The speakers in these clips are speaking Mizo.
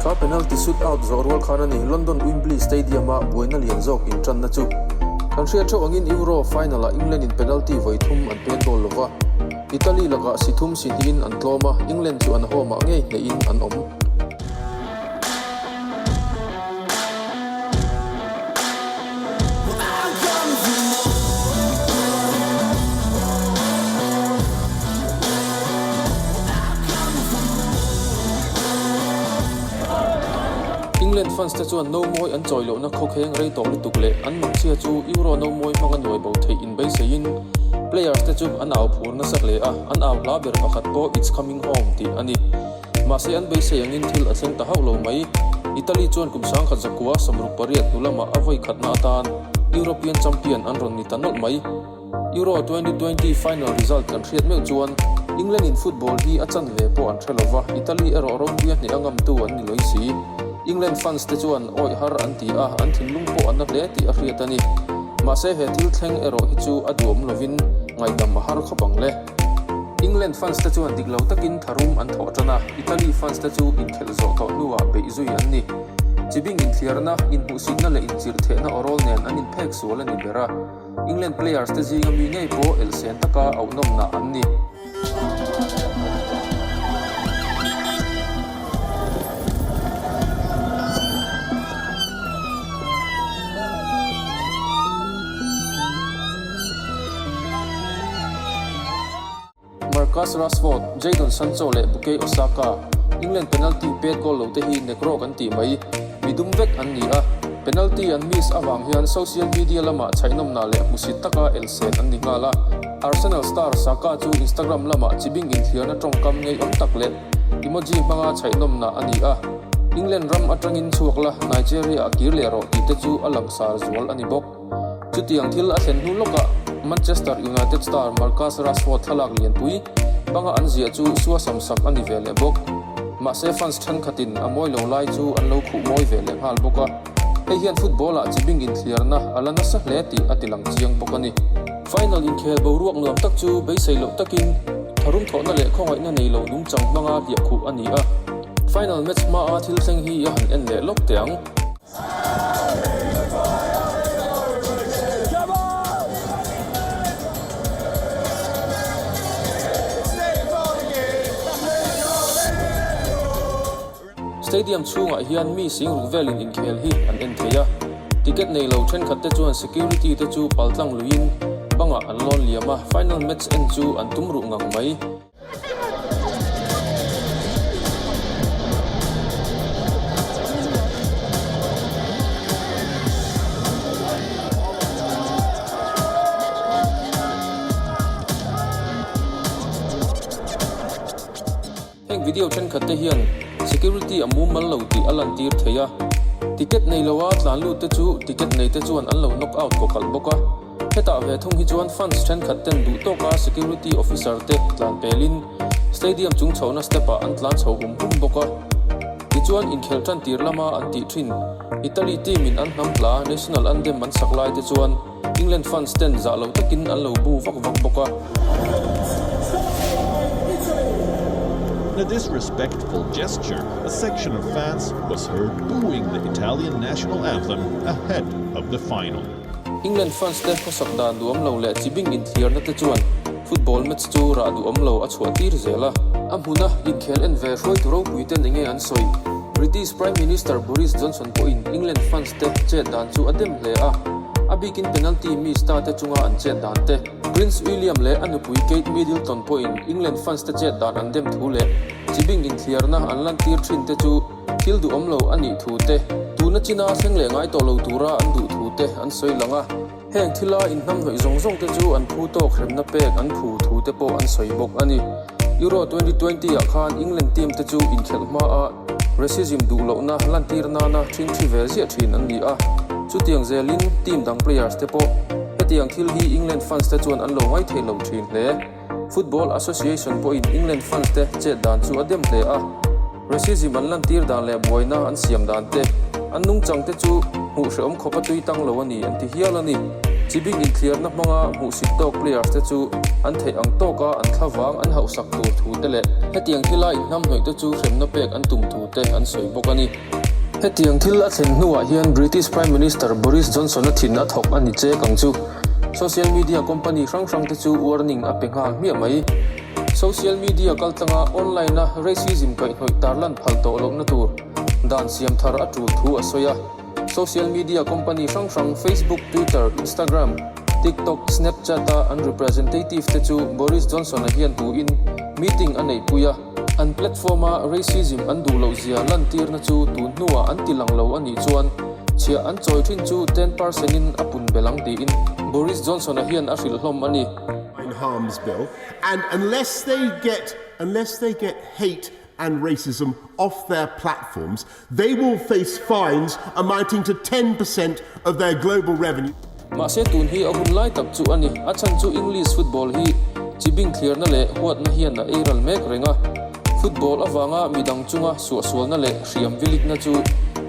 Thla penalty shoot out zawh rual khan a ni, London Wembley Stadium ah buaina lian zawk inṭanna chu. Kan hriat ṭheuh angin Euro final ah England in penalty vawi thum an pen goal lova, Italy lakah si thum si hnihin an tlawm a, England chu an home ah ngei hnehin an awm. England fans te chuan Nomawi an chawi lohna khawkheng rei tawh lutuk leh an mamchhia chu Euro Nomawi hmanga nuai bo theihin beiseiin players te chu an au phur nasak leh a, an au hla ber pakhat pawh it's coming home tih a ni. Mahse an beisei angin thil a thleng ta hauh lo mai. Italy chuan kum sang khat zakua samruk pariat hnu lamah a vawi khatna atan European champion an rawn ni ta nawlh mai. Euro twenty twenty final result kan hriat meuh chuan England in football hi a chan ve pawh an hre lo va, Italy erawh ropui a hneh a ngam tu an ni loi si. England fans te chuan awih har an ti a, an thinlung pawh a na hle tih a hriat a ni. Mahse he thil thleng erawh hi chu a duhawm lovin ngaidam a har khawp ang le. England fans te chuan dik lo takin tharum an thawh tan a, Italy fans te chu inkhelh zawh tawh hnuah beih zui an ni. Chi bing inthiarna, inhmuhsitna leh inchirhthehna awrawl nen an inphek sual a ni ber a, England players te zinga mi ngei pawh el sen taka auhnawmna an ni. Marcus Rashford, Jadon Sancho leh Bukayo Osaka, England penalty pet goal lo te hi nek rawh kan tih mai. Mi dum vek an ni a. Penalty an miss avang hian social media lama chhaihnawmna leh hmusit taka elsen an ni nghal a. Arsenal star Saka chu Instagram lama chi bingin thliarna tawngkam ngeiawm tak leh emoji hmanga chhaihnawmna a ni a. England ram atangin chhuak la Nigeria a kir leh rawh tihte chu a langsar zual a ni bawk. Chutiang thil a thlen hnu lawkah Manchester United star Marcus Rashford thlalak lianpui banga an ziah chu suasam sak a ni ve leh bawk. Mahse fans thenkhatin a mawi lo lai chu an lo khuh mawi ve leh nghal bawk a, hei hian football-ah chi bing inthliarna a la nasa hle tih a tilang chiang bawk a ni. Final inkhel boruak nuam tak chu beisei loh takin tharum thawhna leh khawngaihna nei lo nung chang hmanga hliah khuh a ni a, final match hmaa thil thleng hi a han en leh lawk teh ang. Stadium chhungah hian mi sing ruk velin inkhel hi an en thei a, ticket nei lo thenkhat te chuan security te chu paltlang luiin bangah an lawn liam a, final match en chu an tum ruh ngang mai. Heng video thenkhat te hian security a mumal lo tih a lantir thei a, ticket nei loa tlan lut te chu ticket nei te chuan an lo knock out kawkalh bawk a. Hetah ve thung hi chuan fans thenkhat ten duh tawk a security officer te tlan pel in stadium chung chhohna step ah an tlan chho hum hum bawk a. Tichuan inkhelh tan tir lama an tih thin Italy team in an hnam tla national andem an sak lai te chuan England fans ten zah loh tak in an lo bu vak vak bawk a. England France te hmasak dan duhawm lo leh chi bing inthiarna te chuan football match chu rah duhawm lo a chhuah tir zel a. A hmuna inkhel en ve hruaitu ropui ten enge an sawi? British Prime Minister Boris Johnson pawhin England France te chet dan chu a dem hle a. A bikin penalty mi star te chunga an chet dan te, Prince William leh a nupui Kate Middleton pawhin England France te chet dan an dem thu leh chi bing inthiarna an lantir thin te chu, Thil duhawm lo a nih thu te, tuna china a thleng leh ngai tawh lo tura an duh thu te an sawi lang a. Heng thila inhnamhnawih zawng zawng te chu an phu tawk hremna pek an phu thu te pawh an sawi bawk a ni. Euro twenty twenty ah khan England team te chu inkhelh hma a racism duh lohna lantir nana thin thi vel ziah thin an ni a. Chutiang zel in team dang players te pawh hetiang thil hi England fans te chuan an lo ngai thei lo thin hle. Football Association pawhin England fans te chet dan chu a dem hle a, racism an lantir dan leh buaina an siam dan te, an nungchang te chu hmuh hrehawm khawpa tui tang lo a ni an ti hial a ni. Chibik inthliarna hmanga hmuhsit tawk players te chu an theih ang tawk a, an thla vang an hauhsak tur thu te leh, hetiang thila inhnam hnawih te chu hremna pek an tum thu te an sawi bawk a ni. Hetiang thil a thlen hnuah hian British Prime Minister Boris Johnson-a thin a thawk a ni che kang chu. Social media company hrang hrangte chu warning a pe nghal hmiah mai. Social media kaltlanga online-a racism kaihhnawih tarlan phal tawh lohna tur dan siam thar a tul thu a sawi a. Social media company hrang hrang Facebook, Twitter, Instagram, TikTok, Snapchat-a an representative-te chu Boris Johnson-a hian tuin meeting a neihpui a. An platform a racism an duh loh zia lantirna chu tun hnuah an ti lang lo a nih chuan chhiah an chawi thin chu ten per cent in a pun belh ang tiin Boris Johnsona hian a hrilh hlawm a ni. in harms bill and unless they get unless they get hate and racism off their platforms They will face fines amounting to ten per cent of their global revenue. Mahse tun hi a hun lai tak chu a ni. A chhan chu English football hi chi bingthliarna leh huatna hian a ei ral mek reng a. Football avanga midang chunga suahsualna leh hriam vilikna chu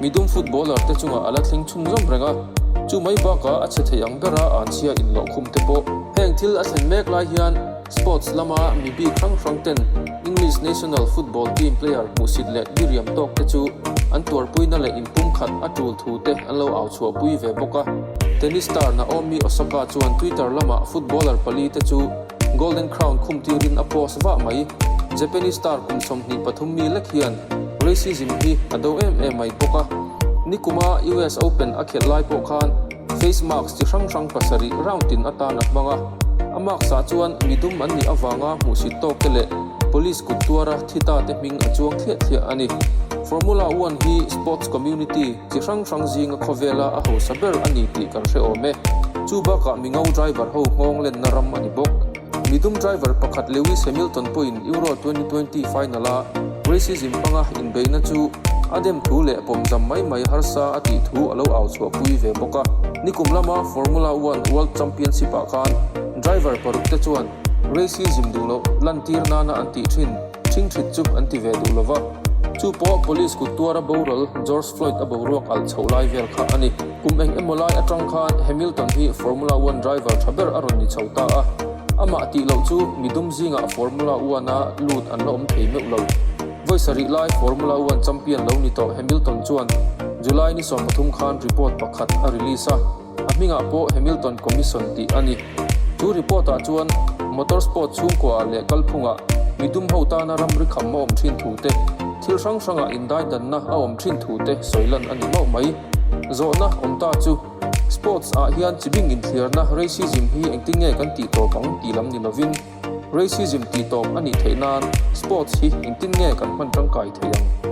mi dum footballer te chungah a la thleng chhun zawm reng a. Chu mai bakah a chhe theih ang bera an chhia inloh khum te pawh heng thil a thlen mek lai hian Sports lama mi bik hrang hrang ten English National Football Team player hmuhsit leh niriam tawk te chu an tuarpuina leh inpumkhat a tul thu te an lo au chhuah pui ve bawk a. Tennis star Naomi Osaka chuan Twitter lamah footballer pali te chu Golden Crown khum tirin a post vah mai. Japanese star kum sawmhnih pathum mi lek hian racism hi a do em em mai bawk a. Nikuma US Open a khelh lai pawh khan. Face mask chi hrang hrang pasarih round in atan a hmang a. A mask ah chuan mi dum an nih avanga hmuhsit tawk te leh police kut tuara thi ta te hming a chuang thliah thliah a ni. Formula One hi sports community chi hrang hrang zinga khawvela a hausa ber a ni tih kan hre awm e. Chu bakah mi ngo driver ho nghawnglenna ram a ni bawk. Mi dum driver pakhat Lewis Hamilton pawhin Euro twenty twenty final a racism hmanga inbeihna chu a dem thu leh pawmzam mai mai harsa a tih thu a lo au chhuahpui ve bawk a. Nikum lama Formula One World Championship ah khan driver paruk te chuan racism duh loh lantir nana an tih thin thing thrit chu an ti ve duh lo va, chu pawh police kut tuara boral George Floyd a boruak alh chhoh lai vel kha a ni. Kum eng emaw lai atang khan Hamilton hi Formula One driver tha ber a rawn ni chho ta a, amah tih loh chu mi dum zingah Formula One a lut an la awm thei meuh lo. Voice-a rih lai Formula One champion lo ni tawh Hamilton chuan July ni sawm pathum khan report pakhat a release a, a hmingah pawh Hamilton Commission tih a ni. Chu report ah chuan Motorsport chhungkuaah leh kalphungah mi dum ho tana ram ri kham a awm thin thu te, thil hrang hrangah indaidanna a awm thin thu te sawilan a ni mauh mai. Zawhna awm ta chu Sports ah hian chi bing inthliarna Racism hi engtin nge kan tih tawp ang tih lam ni lovin Racism tih tawp a nih theih nan Sports hi engtin nge kan hman tangkai thei ang?